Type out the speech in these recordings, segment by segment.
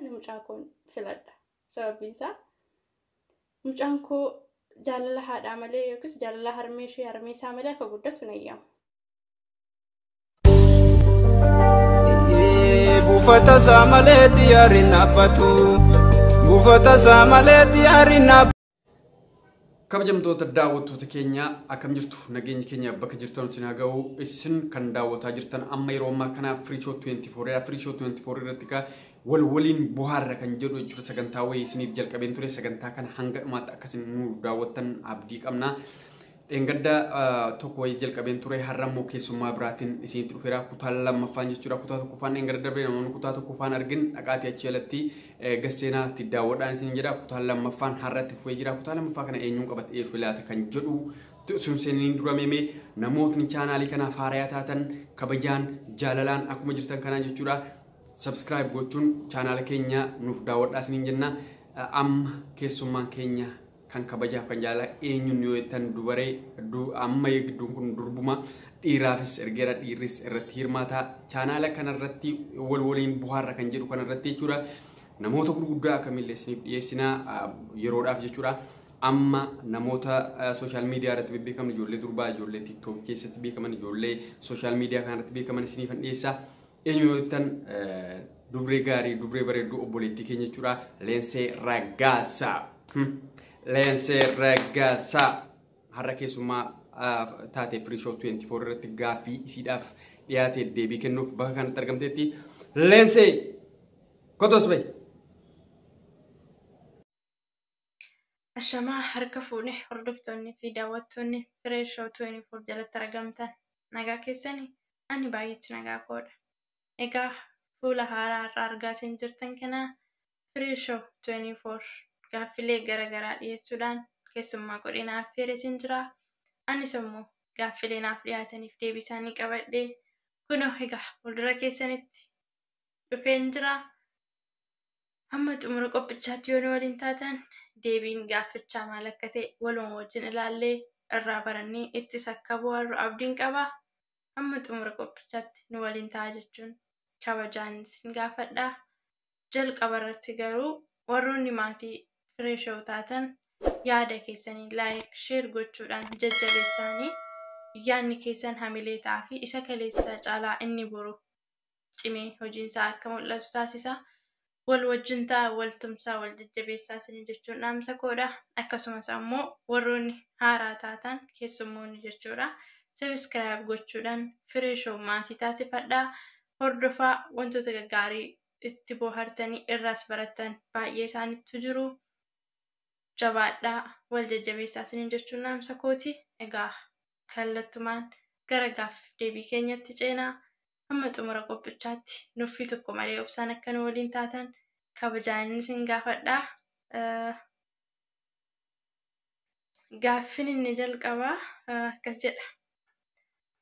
Ani mucaa koon filadha. Sababbiin isaa mucaan koo jaalala haadhaa malee yookiis jaalala harmee ishee harmee isaa malee akka guddatu na yaamu. Buufata isaa malee xiyyaarri hin dhaabbatu. Buufata isaa malee xiyyaarri hin dhaabbatu. Kabajamtoota daawwattoota keenya akkam jirtu nageenyi keenya bakka jirtan isin haa ga'u isin kan daawwataa jirtan amma yeroo ammaa kana Free Show 24 dha. Free Show 24 irratti kaa wal waliin bohaarra kan jedhu jechuudha sagantaa wayii isiniif jalqabeen ture sagantaa kana hanga dhumaatti akkasiin nu daawwattan abdii qabna. Dheengadda tokko wayii jalqabeen ture har'a immoo keessummaa biraatiin isinitti dhufeera kutaa lammaffaan jechuudha kutaa tokkoffaan dheengadda darbee namoonni kutaa tokkoffaan argin dhaqaatii achi alatti gasseenaa itti daawwadhaan isin jedha kutaa lammaffaan har'atti fufee jira kutaa lammaffaa kana eenyuun qabate eef filaate kan jedhu sun seeniin dura meemee namootni chaanaalii kanaaf haarayaa taatan kabajaan jaalalaan akkuma jirtan kanaan jechuudha subscribe gochuun chaanaala keenya nuuf daawwadhaa isiniin jenna amma keessummaan keenya kan kabajaaf kan jaalala eenyuun yoo jettan dubaree amma gidduun kun durbuma dhiiraafis ergeera dhiirris irratti hirmaata chaanaala kanarratti wal waliin buhaarra kan jedhu kanarratti jechuudha namoota gurguddaa akkamillee isiniif dhiyeessina yeroodhaaf jechuudha amma namoota sooshaal miidiyaa irratti bebbeekaman ijoollee durbaa ijoollee tiktook keessatti beekaman ijoollee sooshaal miidiyaa kanarratti beekaman isiniif dhiyeessa Eenyu yoo jettan dubree gaarii dubree bareedduu obboleettii keenya jechuudha. Leensee Raggaasaa. Leensee Raggaasaa. Har'a keessummaa taatee Free Show 24 irratti gaaffii isiidhaaf dhiyaatee deebii kennuuf bakka kanatti argamteetti. Leensee! Kotos bayi! Ashamaa harka fuune hordoftoonni fi daawwattoonni Firee Show 24 jalatti argamtan nagaa keessani ani baay'eetti nagaa koodha. Egaa fuula haaraa har'a argaatiin jirtan kana Firee Show 24 gaaffilee gara garaa dhiyeessuudhaan keessummaa godhee na affeereetiin jira. Anis immoo gaaffilee naaf dhiyaataniif deebii isaanii qabadhee kunoo egaa fuuldura keessanitti dhufeen jira. Amma xumura qophichaatti yoo nu waliin taatan deebiin gaaffichaa maal akka ta'e waluma wajjin ilaallee irraa barannee ittis akka bohaarru abdiin qaba. Amma xumura qophichaatti nu waliin ta'a jechuun kabajaan isin gaafadha. Jalqaba irratti garuu warroonni maatii Firee Show taatan yaada keessanii like, share gochuudhaan jajjabeessaanii. Yaadni keessan hamilee ta'aa fi isa kaleessaa caalaa inni boru cimee hojiin isaa akka mul'atu taasisa. Wal wajjin ta'aa, wal tumsaa, wal jajjabeessaa isiniin jechuun dhaamsa koodha. Akkasumas ammoo warroonni haaraa taatan keessummoonni jechuudha. Subscribe gochuudhaan Firee Show maatii taasifadhaa. Hordofaa wantoota gaggaarii itti boohartanii irraas barattan baay'ee isaanittu jiru. Jabaadhaa, wal jajjabeessaa isiniin jechuun dhaamsa kooti. Egaa kallattumaan gara gaaffiif deebii keenyatti ceena. Hamma xumura qophichaatti nuffii tokko malee obsaan akka nu waliin taatan kabajaanin isin gaafadha. Gaaffiin inni jalqabaa akkas jedha.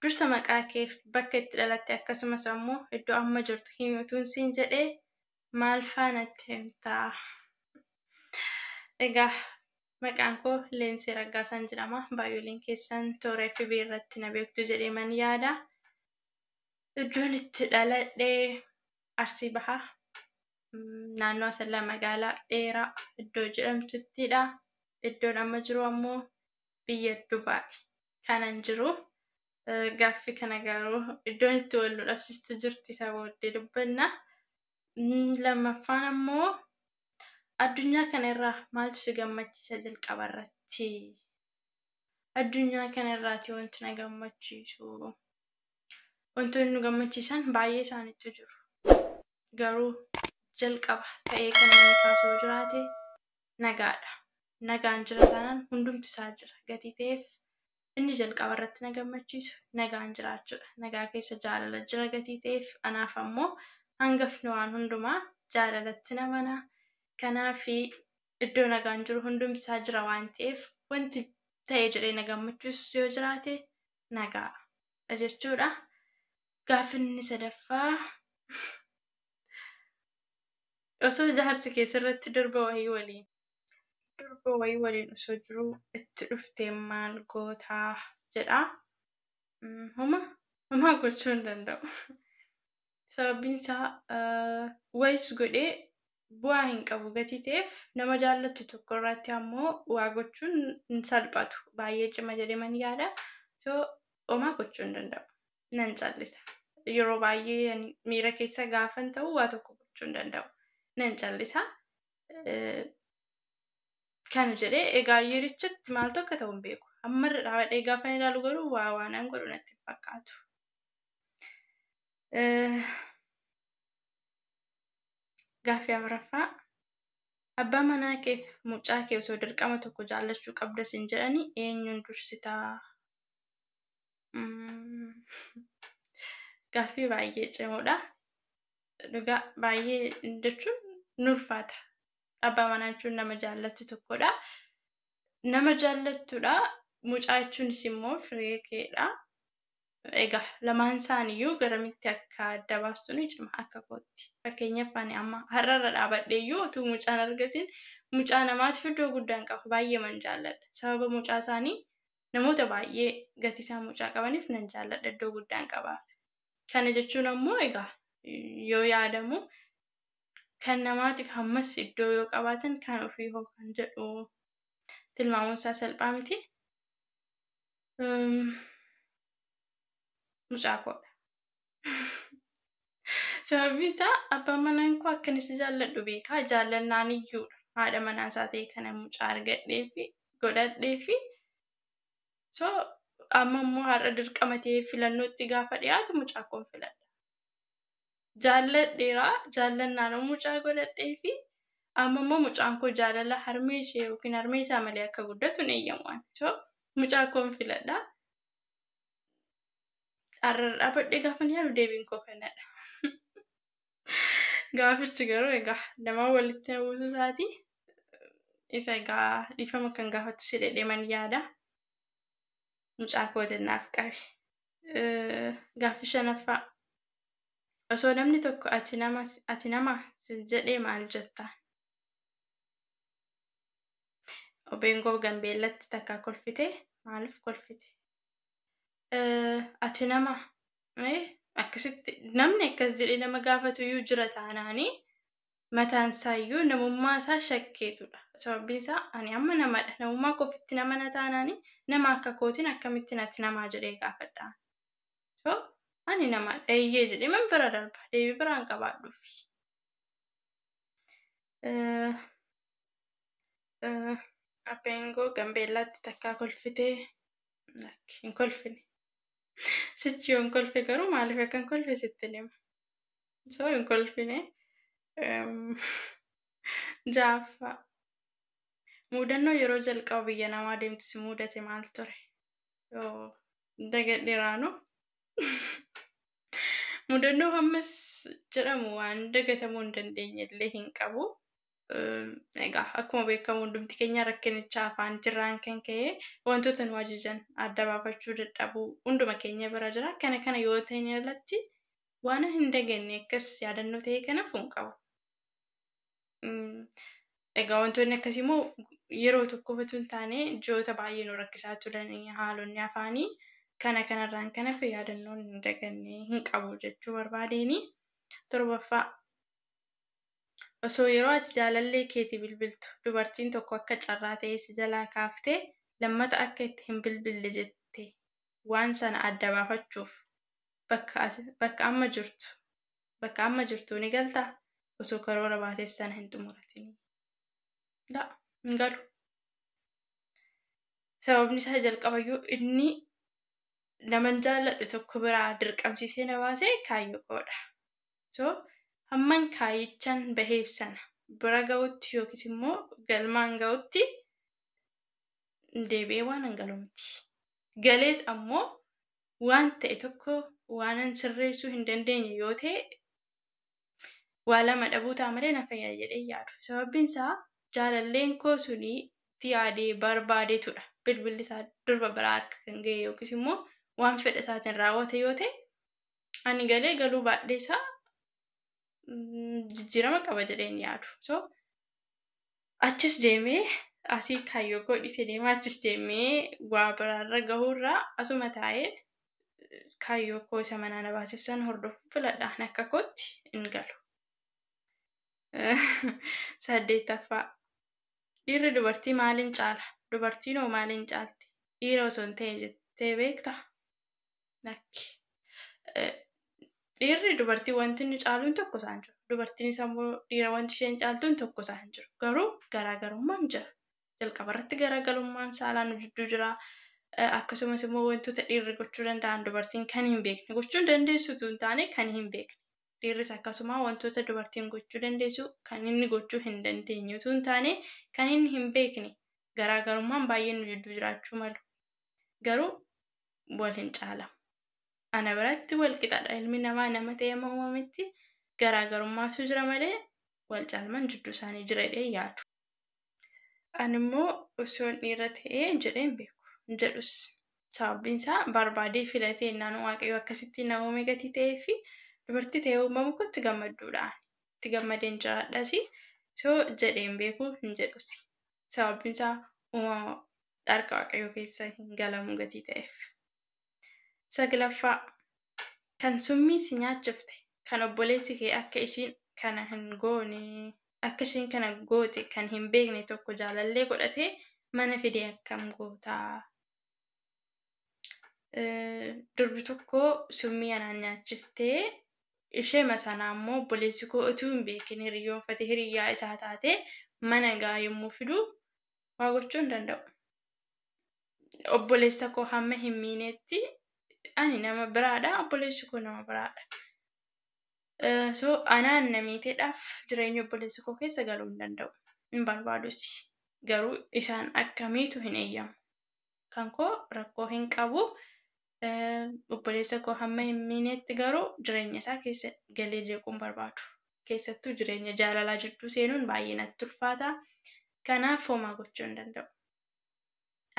Dursa maqaa keef bakka itti dhalatte akkasumas ammoo iddoo amma jirtu himi utuun siin jedhee maalfaa natti himta? Egaa Maqaan koo Leensee Raggaasaan jedhama. Baay'ooliin keessan toora FB irratti na beektu jedhee man yaada. Iddoon itti dhaladhe Arsii Baha. Naannoo Asallaa magaalaa dheeraa iddoo jedhamtuttidha. Iddoon amma jiru ammoo biyya Dubaay kanan jiru. Gaaffi kana garuu iddoon itti wal nu dhabsiistu jirti isa booddee dubbanna. Lammaffaan ammoo Addunyaa kana irraa maaltu si gammachiisa jalqaba irratti? Addunyaa kana irraati wanti na gammachiisu. Wantoonni nu gammachiisan baay'ee isaaniitu jiru. Garuu jalqaba ta'ee kan inni kaasu yoo jiraate nagaadha. Nagaan jira taanaan hundumti isaa jira. Gatii ta'eef Inni jalqaba irratti na gammachiisu nagaan jiraachuu dha. Nagaa keessa jaalala jira gatii ta'eef. Anaaf ammoo hangafni waan hundumaa jaalalattin amana. Kanaaf iddoo nagaan jiru hundumti isaa jira waan ta'eef wanti ta'e jedhee na gammachiisus yoo jiraate nagaa dha jechuu dha. Gaaffiin inni sadaffaa osoo jaarsi kee sirratti durba wahii waliin. Durba wayii waliin osoo jiruu itti dhuftee maal goota jedha. Homa homaa gochuu hin danda'u. Sababbiin isaa wayis godhee bu'aa hin qabu gatii ta'eef nama jaallattu tokko irratti ammoo waa gochuun hin salphatu baay'ee cima jedhee man yaada. So homaa gochuu hin danda'u. Nan callisa. Yeroo baay'ee miira keessa gaafan ta'u waa tokko gochuu hin danda'u. Nan callisa. kan jedhe egaa yeerichatti maaltu akka ta'u hin beeku. Amma irra dhaabadhee gaafa ilaalu garuu waa waanan godhu natti hin fakkaatu. Gaaffii afuraffaa abbaa manaa keef mucaa kee osoo dirqama tokko jaallachuu qabda sin jedhani eenyuun dursitaa? Gaaffii baay'ee cimoodha. dhugaa baay'ee jechuun ni ulfaata. Abbaa manaa jechuun nama jaallattu tokkodha. Nama jaallattudha. Mucaa jechuunis immoo firee keedha. Egaa lamaan isaaniiyyuu garamitti akka adda baastu ni cima akka kootti. Fakkeenyaaf ani amma har'arra dhaabadheeyyuu utuu mucaan argatiin mucaa namaatiif iddoo guddaa hin qabu. Baay'eeman jaalladha. Sababa mucaa isaanii namoota baay'ee gatiisaa mucaa qabaniif nan jaalladha iddoo guddaan qabaaf. Kana jechuun ammoo egaa yoo yaadamu kan namaatiif hammas iddoo yoo qabaatan kan ofii hoo kan jedhu tilmaamuun isaa salphaa miti. Mucaa koodha. Sababiin isaa abbaan manaan koo akkan isa jaalladhu beekaa jaallannaan iyyuudha. Haadha manaa isaa ta'e kana mucaa argadhee fi godhadhee fi So amma immoo har'a dirqama ta'ee filannootti gaafa dhiyaatu mucaa koon filadha. Jaalladheera, jaallannaan immoo mucaa godhadhee fi amma immoo mucaan koo jaalala harmee ishee yookiin harmee isaa malee akka guddatu hin eeyyamu ani. So mucaa koon filadha. Har'a irra dhaabadhee gaafa yaadu deebiin koo kanadha. Gaafichi garuu egaa lamaan walitti na buusuu isaati. Isa egaa dhiifama kan gaafattu si dhedheeman yaada. Mucaa kootiin naaf qabi. Gaaffii shanaffaa. Osoo namni tokko ati nama ati nama sin jedhee maal jetta? Obeengoo Gambeellatti takkaa kolfite maaliif kolfite? Ati nama akkasitti namni akkas jedhee nama gaafatuyyuu jira taanaani mataan isaayyuu namummaa isaa shakkeetudha. Sababbiin isaa ani amma namadha namummaa koo ofitti nama na taanaani nama akka kootiin akkamitti nati namaa jedhee gaafadha. So ani namadha eeyyee jedhee man bira darba deebii biraan qabaadhuufi. Abbeengoo Gambeellaatti takkaa kolfitee lakki hin kolfine sichi yoon kolfe garuu maaliif akkan kolfe sittin hima so hin kolfine jaaffaa muudannoo yeroo jalqaba biyya namaa deemtu si muudate maal ture yoo dagadheraanu mudannoo hammas jedhamu waan dagatamuu hin dandeenye illee hin qabu egaa akkuma beekamu hundumti keenya rakkinicha afaan jirraan kan ka'e wantoota nu ajajan adda baafachuu dadhabuu hunduma keenya bira jira. Kana kana yoo ta'in alatti waan hin daganne akkas yaadannoo ta'ee kana fuun qabu. Egaa wantoonni akkasii immoo yeroo tokko qofa hin taane ji'oota baay'ee nu rakkisaa turan haalonni afaanii kana kanarraan kan hafe yaadannoon hin daganne hin qabu jechuu barbaadeeni. Torbaffaa Osoo yeroo ati jaalallee keetii bilbiltu dubartiin tokko akka carraa ta'ee si jalaa kaaftee lammata akka itti hin bilbille jette waan sana adda baafachuuf bakka ati bakka amma jirtu bakka amma jirtuu ni galtaa? Osoo karoora baateef sana hin xumuratinii. La, hin galu. Sababni isaa jalqabayyuu inni naman jaalladhu tokko biraa dirqamsiisee na baase kaayyoo koodha. So, hamman kaayyichan baheef sana bira ga'utti yookiis immoo galmaan ga'utti deebi'ee waanan galu miti. Galees ammoo waan ta'e tokko waanan sirreessuu hin dandeenye yoo ta'e waa lama dhabuu ta'a malee na fayyada jedhee hin yaadu. Sababbiin isaa jaalalleen koo suni itti yaadee barbaadeetudha bilbilli isaa durba biraa harka kan ga'e yookiis immoo waan fedha isaatiin raawwate yoo ta'e ani galee galuu baadhee isaa jijjiirama qaba jedhee hin yaadu. So achis deemee asii kaayyoo koo dhiisee deemaa achis deemee waa biraarra gahuurraa asuma taa'ee kaayyoo koo isa manaa na baasif san hordofuu filadha ani akka kootti hin galu. Saddeettaffaa dhiirri dubartii maaliin caala? Dubartiin hoo maaliin caalti? Dhiira osoo hin ta'e jettee beektaa? Lakki. Dhiirri dubartii wanti inni caaluun tokko isaa hin jiru. Dubartiinis ammoo dhiira wanti isheen caaltuun tokko isaa hin jiru. Garuu garaagarummaan jira. Jalqaba irratti garaagarummaan saalaa nu jidduu jira. Akkasumas immoo wantoota dhiirri gochuu danda'an dubartiin kan hin beekne gochuu hin dandeessu utuu hin taane kan hin beekne. Dhiirris akkasuma wantoota dubartiin gochuu dandeessu kan inni gochuu hin dandeenye utuu hin taane kan inni hin beekne garaagarummaan baay'een nu jidduu jiraachuu malu. garuu wal hin caalan. Ana biratti wal qixadha ilmi namaa nama ta'ee amma uumametti garaagarummaatu jira malee wal caalman jidduu isaanii jira jedhee hin yaadu. Ani immoo osoon dhiira ta'ee jedhee hin beeku hin jedhus. Sababbiin isaa barbaadee filatee innaan waaqayyo akkasitti na uume gatii ta'eefi dubartii ta'ee uumamu kootti gammadduudha ani. Itti gammadeen jiraadhasi so jedhee hin beeku hin jedhus. Sababbiin isaa uumama dharka Waaqayyoo keessa hin galamu gatii ta'eef. Saglaffaa, kan summii si nyaachifte, kan obboleessi kee akka ishiin kana hin goone, akka isheen kana goote kan hin beekne tokko jaalallee godhatee mana fide akkam goota? Durbi tokko summii anaan nyaachiftee isheema sanaa immoo obboleessi koo utuu hin beekin hiriyyoonfatee hiriyyaa isaa taatee mana gaa yommuu fidu waa gochuu hin danda'u. Obboleessa koo hamma hin miinetti ani nama biraadha obboleessi koo nama biraadha. So anaan na miiteedhaaf jireenya obboleessa koo keessa galuu hin danda'u hin barbaadusi garuu isaan akka miitu hin eeyyamu. kan koo rakkoo hin qabu obboleessa koo hamma hin miineetti garuu jireenya isaa keessa galee jeequun barbaadu keessattuu jireenya jaalalaa jidduu seenuun baay'ee natti ulfaata kanaaf homaa gochuu hin danda'u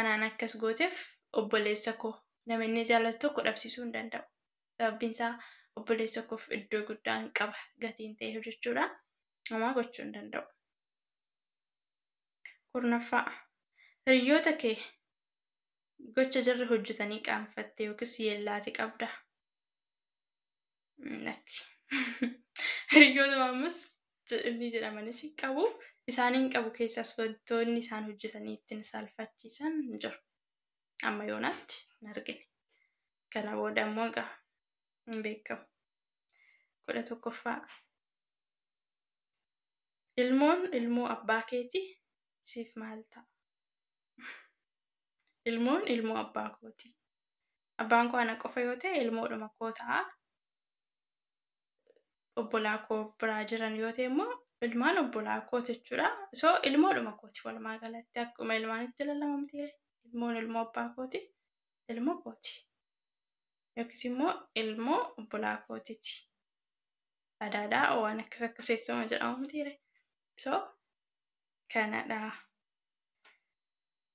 anaan akkas gooteef obboleessa koo nama inni jaalatu tokko dhabsiisuu hin danda'u sababbiin isaa obboleessa koof iddoo guddaan qaba gatiin ta'e hojjechuudha homaa gochuu hin danda'u. Kurnaffaa, hiriyyoota kee gocha jarri hojjetanii qaanfatte yookiis yeellaate qabdaa? Lakki. Hiriyyootuma ammas jedhanii jedhamanis hin qabu. Isaan hin qabu keessaas wantoonni isaan hojjetanii ittiin saalfachiisan hin jiru. Amma yoonaatti hin argine. Kana booda immoo egaa hin beekamu. kudha tokkoffaa. Ilmoon ilmoo abbaa keeti siif maal ta'a? Ilmoon ilmoo abbaa kooti. Abbaan koo ana qofa yoo ta'e ilmoodhuma koo ta'a. Obbolaa koo biraa jiran yoo ta'e immoo ilmaan obbolaa kooti jechuudha. So ilmoodhuma kooti walumaa galatti akkuma ilmaanitti lalamamti ilmoon ilmoo abbaa kooti ilmoo kooti. Yookiis immoo ilmoo obbolaa kootiti. adaadha waan akkas akkas eessuma jedhamu mitiire so kanadha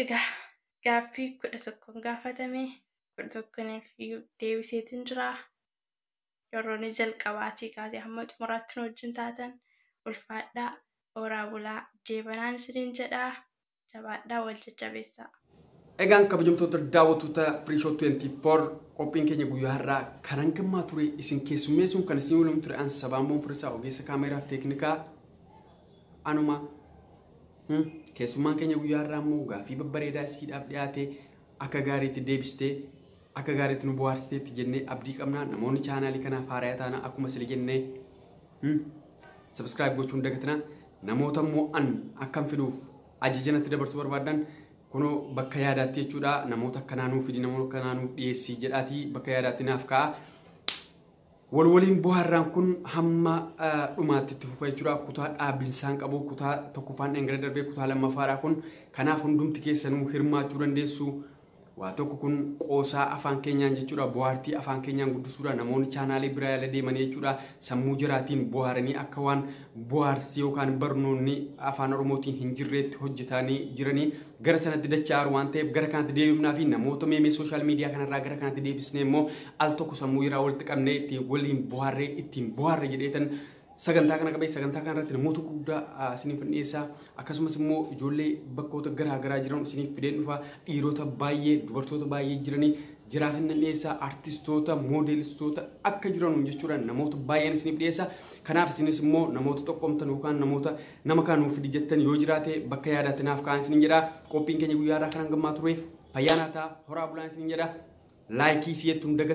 egaa gaaffii kudha tokkoon gaafatame kudha tokkoniif iyyuu deebiseetiin jira yerroon jalqabaatii kaasee hamma xumuraatti nu wajjin taatan ulfaadhaa horaa bulaa jeebanaan isiniin jedhaa jabaadhaa wal jajjabeessaa. Egaan kabajamtoota daawwattoota Free Show 24 qophiin keenya guyyaa har'aa kan hangammaa ture isin keessummeessuun kan isin waliin ture an sabaan boonfirisaa ogeessa kaameeraa fi teeknikaa anuma Hmm, keessummaan keenya guyyaa har'aa immoo gaaffii babbareedaa isiidhaaf dhiyaate akka gaariitti deebistee Akka gaariitti nu bohaarsiteetti jennee abdii qabna. Namoonni chaanaalii kanaaf haaraya taana akkuma sila jennee hmm, subscribe gochuun dagatina. Namoota immoo an akkan fiduuf ajaja natti dabarsuu barbaadan kunoo bakka yaadaatti jechuudha. Namoota akkanaa nuuf fidi, namoota akkanaa nuuf dhiyeessi jedhaatii bakka yaadaatti naaf kaa'a. Wal waliin bohaarraan kun hamma dhumaatti itti fufa jechuudha. Kutaa dhaabinsaan qabu kutaa tokkoffaan dhangala darbee kutaa lammaffaadha kun. Kanaaf hundumti keessanuu hirmaachuu dandeessu. Waa tokko kun qoosaa afaan keenyaan jechuudha. Bohaartii afaan keenyaan guddisuudha. Namoonni chaanaalii biraa yaala deemanii jechuudha. Sammuu jiraatiin bohaaranii akka waan bu'aarsi yookaan barnoonni afaan oromootiin hin jirreetti hojjetaanii jiranii gara sanatti dacha'aaru waan ta'eef gara kanatti deebifnaa fi namoota meemee sooshaal miidiyaa kanarraa gara kanatti deebisnee immoo al tokko sammuu irraa walitti qabnee itti waliin buhaarree ittiin buhaarre jedheetan sagantaa kana qabee sagantaa kana irratti namoota guddaa isiniif dhiyeessaa akkasumas immoo ijoollee bakkoota garaa garaa jiran isiniif fideen dhufa dhiirota baay'ee dubartoota baay'ee jiranii Jiraa finnan dhiyeessaa artistoota, moodeelistoota akka jiranuun jechuudhaan namoota baay'een isiniif dhiyeessa. Kanaaf isinis immoo namoota xoqqomtan yookaan namoota nama kaan nuuf fidi jettan yoo jiraate bakka yaadaatti naaf kaa'aa isiniin jedha. Qophiin keenya guyyaa irraa kan hangammaa ture. Fayyaa naa ta'a, horaa bulaa isiniin jedha. Laayikii si'eettuun dagattan.